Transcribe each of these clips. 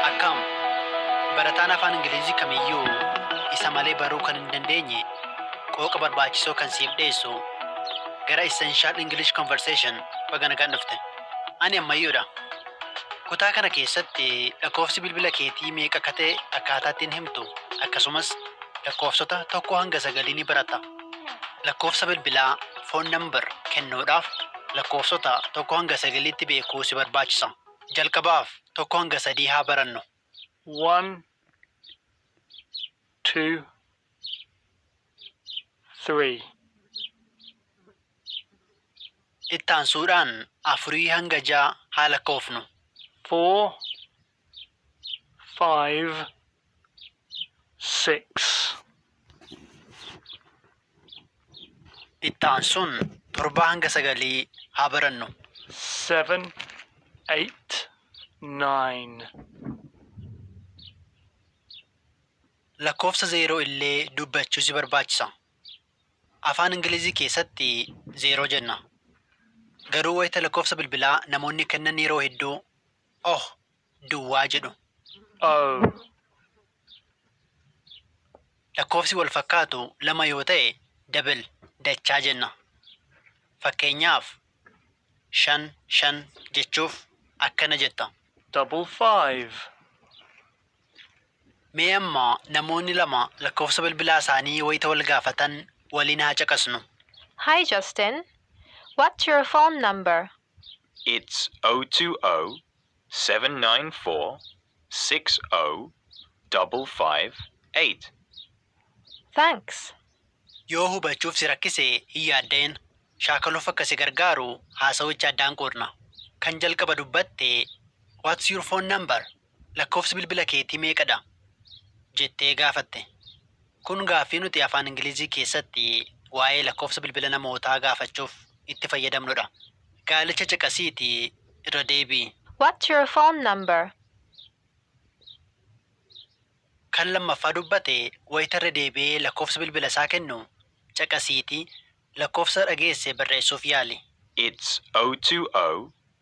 Akkam! Barataan Afaan Ingiliizii kamiyyuu isa malee baruu kan hin dandeenye qooqa barbaachisoo kan siif dhiyeessu gara Essential English Conversation baga nagaan dhufte. Ani ammayyuudha. Kutaa kana keessatti lakkoofsi bilbila keetii meeqa akka ta'e akkaataa ittiin himtu akkasumas lakkoofsota tokkoo hanga sagalii ni baratta. Lakkoofsa bilbilaa, phone number, kennuudhaaf lakkoofsota 1-9tti beekuu si barbaachisa. Jalqabaaf 1-3 haa barannu. one, two, three, Itti aansuudhaan 4-6 haa lakkoofnu. four, five, six. Itti aansuun torbaa hanga sagalii haa barannu. seven, eight, nine. Lakkoofsa zeeroo illee dubbachuu si barbaachisa. Afaan Ingilizii keessatti zeeroo jenna. Garuu wayita lakkoofsa bilbilaa namoonni kennan yeroo hedduu oh duwwaa jedhu. oh. Lakkoofsi wal fakkaatu lama yoo ta'e double dachaa jenna. Fakkeenyaaf shan shan jechuuf akkana jetta. double five. Mee amma namoonni lama lakkoofsa bilbilaa isaanii wayita wal gaafatan waliin haa caqasnu. Hi Justin, what's your phone number? It's 020 794 60558. Thanks! Yoo hubachuuf si rakkise hin yaadda'in. Shaakaluuf akka si gargaaru haasawicha addaan qoodna. Kan jalqaba dubbatte What's your phone number? Lakkoofsi bilbila keetii meeqa dha? jettee gaafatte. Kun gaaffii nuti afaan Ingilizii keessatti waa'ee lakkoofsa bilbila namootaa gaafachuuf itti fayyadamnu dha. Gaalicha caqasiitii irra deebi'i. What's your phone number? Kan lammaffaa dubbate wayita irra deebi'ee lakkoofsa bilbila isaa kennu, caqasiitii lakkoofsa dhageesse barreessuuf yaali. It's 020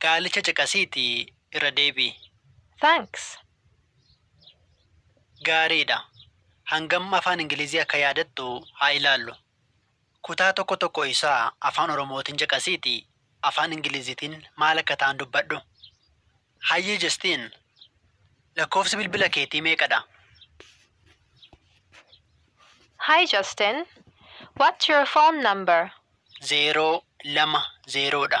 Gaalicha caqasiiti irra deebi'i. Thanks! Gaariidha. Hangam Afaan Ingilizii akka yaadattu haa ilaallu. Kutaa tokko tokko isaa Afaan Oromootiin caqasiiti Afaan Ingiliziitiin maal akka ta'an dubbadhu. Hayyee Justin! Lakkoofsi bilbila keetii meeqadha? Hi Justin! What's your phone number? 0, 2, 0 dha.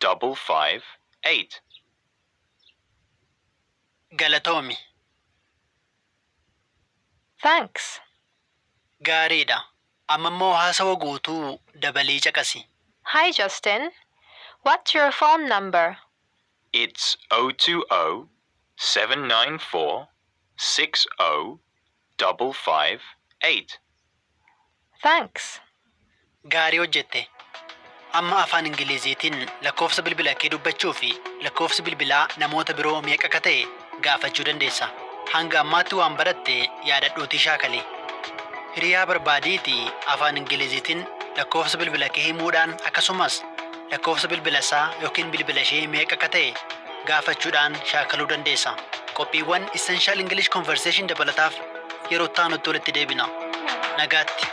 double five eight. Galatoomi. Thanks. Gaariidha. Amma immoo haasawa guutuu dabalii caqasi. Hi Justin, what's your phone number? It's O two O seven nine four six O double five eight. Thanks! Gaarii hojjette. Amma afaan Ingiliziitiin lakkoofsa bilbila kee dubbachuu fi lakkoofsi bilbilaa namoota biroo meeqa akka ta'e gaafachuu dandeessa. Hanga ammaatti waan baratte yaadadhuutii shaakali. Hiriyaa barbaadiitii afaan Ingiliziitiin lakkoofsa bilbila kee himuudhaan akkasumas lakkoofsa bilbila isaa ykn bilbila ishee meeqa akka ta'e gaafachuudhaan shaakaluu dandeessa. Qophiiwwan Essential English Conversation dabalataaf yeroo itti aanutti walitti deebina. Nagaatti!